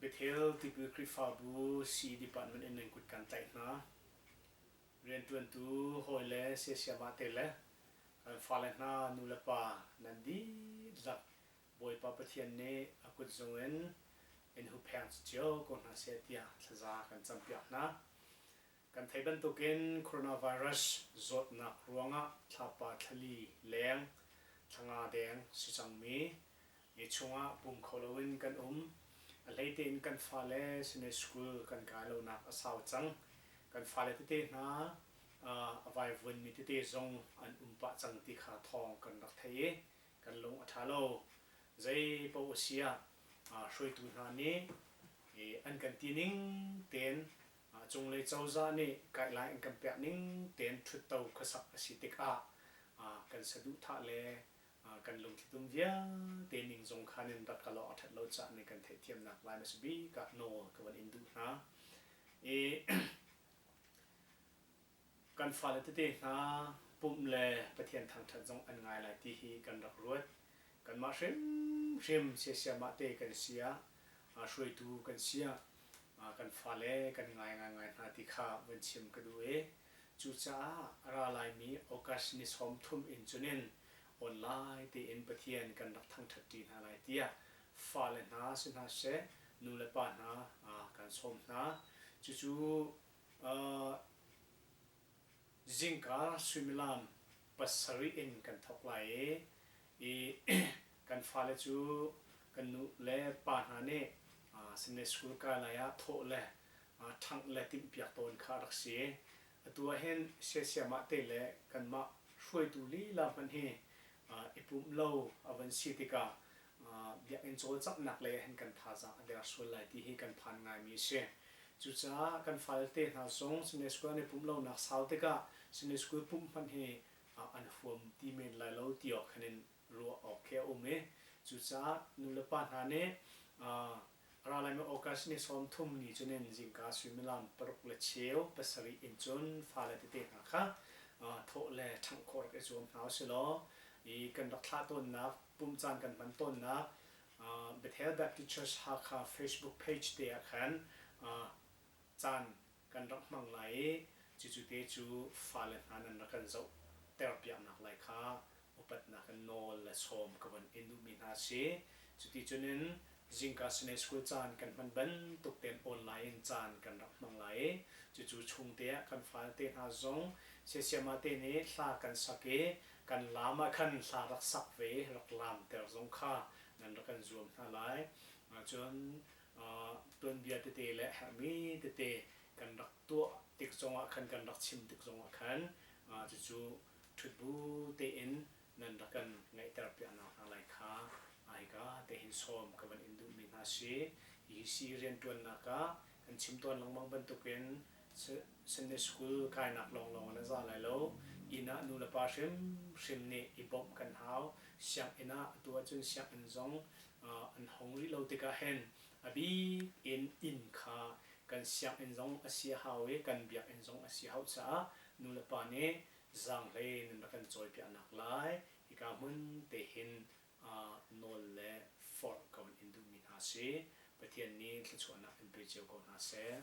Bethel Tipil Khrihfabu sii department in nan kut kan tlaih hna. Rianṭuantu hawile siasiamahte le kan fale hna nu le pa nan dihlak Bawipa Pathian nih a kut zung in in huhpheng cio ko hna seh tiah thlaza kan campiak hna. Kan theih bantukin coronavirus zawtnak ruangah thlapa thlali leng thlanga deng si cangmi mi chungah pum kho loin kan um. A hlei tein kan fale sihni school kan kai lonak a sau cang. Kan fale tete hna a vaivuanmi tete zong an um pah cang ti kha thawng kan rak theih i kan lung a ṭha lo. Zeipaoh a si ah hruaitu hna nih an kan ti ning tein Mah cunglei cozah nih guideline in kan pek ning tein ṭhutto khuasak a si tikah kan saduhthah le kan lungthitum vialte ning zong khan in rat kal awk a ṭhat lo caan in kan theihthiamnak Laimi a si bik ah nawl ka van in duh hna i kan fale tete hna pumh le Pathian thangṭhat zong an ngai lai ti hi kan rak ruat. Kanmah hrimhrim siasiahmah te kan si ah, hruaitu kan si ah kan fale kan ngai ngaingai hna ti kha van chim ka duh i cucaah a ra laimi August ni sawm thum in cunin awnlai tein Pathian kan rak thangṭhatṭi hna lai tiah fale hna si hna seh, nu le pa hna kan sawm hna. Cucu zingka suimilam pasarih in kan thawk lai i kan fale cu kan nu le pa hna nih sinne school kai lai ah thawh le ṭhangh le timhpiak tawn kha a rak si. Atu ah hin siasiamah te le kanmah hruaitu lila hmanh hi i pumh lo a van si tikah biakinn cawlcanghnak lei ahhin kan thazaang a der sual lai ti hi kan phan ngaimi a si. Cucaah kan falte hna zong Sunday School an i pumh lonak sau tikah Sunday School pumh hmanh hi an huam ti men lai lo ti awk khan in ruah awk khi a um i cucaah nulepa hna nih Ralaimi August ni sawmthum ni cu nihin zingka suimilam paruk le cheu pasarih in cun fale tete hna kha thawh le ṭhangh khawh rak i zuam hna u silaw i kan rak thlah tawnnak, pumh caan kan hman tawnnak Bethel Baptist Church Hakha Facebook page te ah khan caan kan rak hmang lai i cucu te cu fale hna nan rak kan zoh terpiaknak lai kha upatnak in nawl le sawm ka von in duhmi hna a si. Cuticun in Zingka Sunday School caan kan hman bantuk tein online in caan kan rak hmang lai i cucu chungte ah kan falte hna zong Siasiamate nih hla kan sak i kan lam ah khan hla rak sak ve i rak laamter zong kha nan rak kan zuam hna lai. Cun tuanbia tete le herhmi tete kan rak tuah tik zongah khan kan rak chim tik zongah khan cucu ṭhutbu tein nan rak kan ngaihter piaknak hna lai kha hika tehin sawm ka van in duhmi hna si. Hi sii rianṭuannak ah kan chim tawn lengmang bantukin Sunday School kainak lawnglawng ah na za lai lo, inn ah nulepa hrimhrim nih i bawmh kan hau, sianginn ah atu ahcun sianginn zong an hong rih lo tikah hin a bik in inn kha kan sianginn zong a si a hau i kan biakinn zong a si a hauh caah nulepa nih zaanghleiin an rak kan cawipiahnak lai hika hmun te hin nawl le forh ka vun in duhmi hna si Pathian nih thluachuahnak in pe cio ko hna seh.